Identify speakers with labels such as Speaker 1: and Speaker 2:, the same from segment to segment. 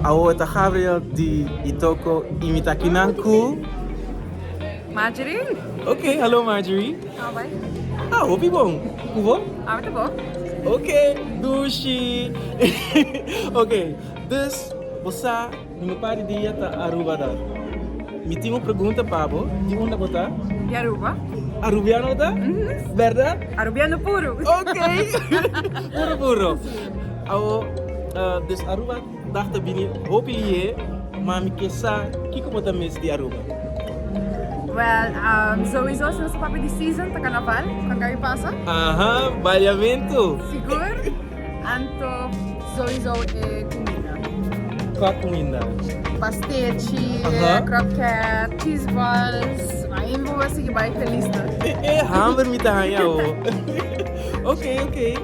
Speaker 1: Awo e ta Gabriel di y toko imita kinan ku.
Speaker 2: Marjorie. Ok
Speaker 1: hallo Marjorie. How bai?
Speaker 2: Ah hopi bon.
Speaker 1: Ku bo? Awe ta bo.
Speaker 2: Ok
Speaker 1: dushi. Ok dus bo sa di mi pa di dia ta Aruba da. Mi tin un pregunta pa bo di unda bo ta? Di Aruba.
Speaker 2: Arubiano bo ta?
Speaker 1: Berdad? Arubiano puru.
Speaker 2: Ok
Speaker 1: puru puru. Awo des Aruba dag ta bini hopi lihe, ma mi ke sa kiko bo ta miss di Aruba?
Speaker 2: Well, souizo si nos ta papia di season ta Carnaval, kua e pasa? Aha,
Speaker 1: baileamento! Sigur,
Speaker 2: anto souizo e cuminda. Kua
Speaker 1: cuminda? Pastechi,
Speaker 2: croquet,
Speaker 1: cheese
Speaker 2: balls, ahí bo a sigui bai felis tur. E hamber mi
Speaker 1: ta haña awo. Oke, oke.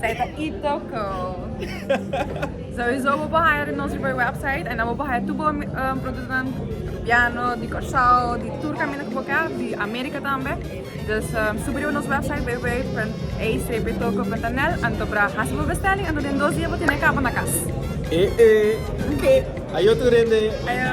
Speaker 1: Zij
Speaker 2: ta itoko. Sowieso bo bahaya di nos riba e website en dan bo bahaya tur bo produktonan Rubiano, di Kòrsou, di tur kaminda ku bo kèr, di Amerika tambe. Dus subi riba nos website www.acptoko.nl anto pra hasi bo besteling anto den dos dia bo tene e kaba na kas. E e
Speaker 3: ok ayo tur hende. Ayo.